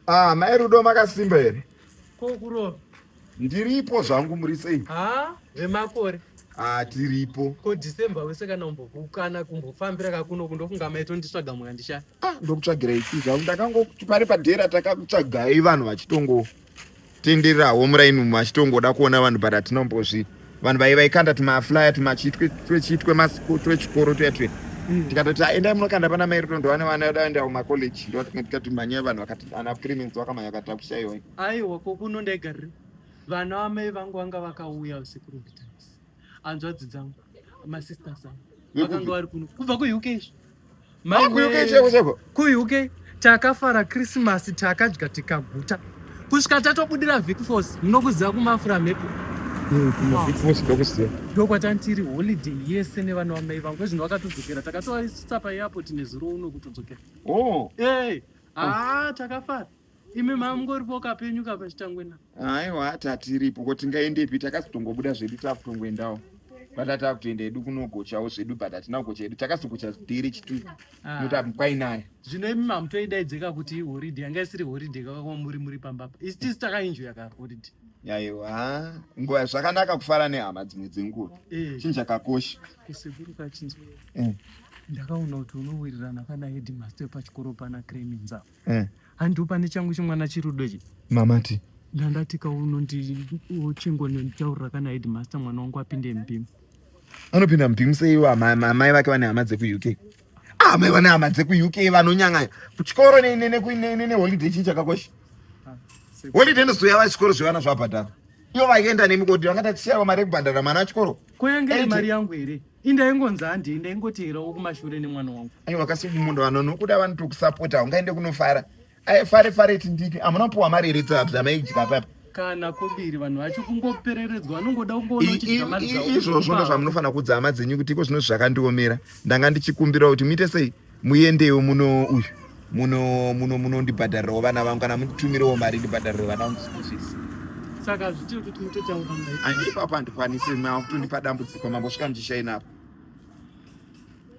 Ah, mai Rudo makasimba here? Ko kurova. Ndiripo zvangu muri sei? Ah, vemakore. Ah, tiripo. Ko December wese kana umbokukana kumbofambira kakuno kundofunga mai tonditsvaga mwana ndisha. Ah, ndokutsvagira ichi zvangu ndakango pari padera takakutsvagai vanhu vachitongo. tendererawo muraini umu achitongoda kuona vanhu but atinombozvi vanhu vai vaikanda tumaflyer tumachitwe twechitwe twechikoro twetwe mm. tikatoti aendai ah, munokanda pana mai rudo ndovane vana vedu aendawo macollege ndotikati mhanyai vanhu vakati ana clemens vakamhanya vakati akushaiwai aiwa kokuno ndaigarire vana vamai vangu vanga vakauya usiku rwekutanga hanzvadzi dzangu masisters angu vakanga vari kuno kubva kuuk izvo kuuk takafara krismasi takadya tikaguta kusvika tatobudira vicfos munokuziva kumafura mhepo ndokwatantiri holiday yese nevana vamai vangu ezvino vakatodzokera takatovaisa paairport nezuro uno kutodzokera oh. haa takafara imi mamungori boka penyu kapa chitangwena aiwa hati hatiripo ko tingaendepi takazotongobuda zvedu takutongoendawo bata takutoenda edu kunogochawo zvedu but hatina kugocha edu takazogocha dhiri chitu ah. nota kwainayo zvino imi mamutoidaidzeka kuti horide yanga isiri horide kakakwa muri muri pamba pa isi tisi takainjoya ka horide yaiwa nguva zvakanaka kufara nehama dzimwe dzenguva eh. chinhu chakakosha kusekuru kachinzwa eh. ndakaona kuti unowirirana kana hedmaster pachikoro pana creminzaa eh. handiwo pane changu chimwana chirudo chi mamati ndandatika unondiochingo nenditaurira kana headmaster mwana wangu apinde mbimu anopinda mbimu seiwo amai vake vane hama dzekuuk ah, amai vane hama dzekuuk vanonyang'anya kuchikoro neholiday chii chakakosha ah, holiday ndozouya vachikoro zvevana zvavabhadhara ivo vaienda nemikoti vangati siyawo mari ekubhadhara mwana achikoro kuyange mari yangu here indaingonzi handii ndaingoteerawo kumashure nemwana wangu aiwa kasumundo vano nokuda vanotokusapota ungaende kunofara aifare fare tindiki amuna puwa mari here dzamaidya papa kana kobiri vanhu vacho kungopereredzwa vanongoda kungoizvozvo ndo zvamunofanira kuudza hama dzenyu kuti iko zvino zvakandiomera ndanga ndichikumbirawo kuti muite sei Muyendewo muno uyu muno muno munondibhadharirawo vana vangu kana mutumirawo mari ndibhadharire vana vangu school fees. Saka zvitiri kuti mutotaura naye. Ani ipapo handikwanisi makutondipa dambudziko mambo svika ndishaina apo.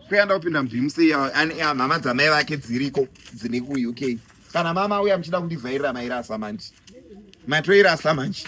Kuyanda kupinda mubhimusi iya ani mhama dzamai vake dziriko dzine ku UK. Kana mama uya muchida kundivhairira mairasa manje. Matoirasa manje.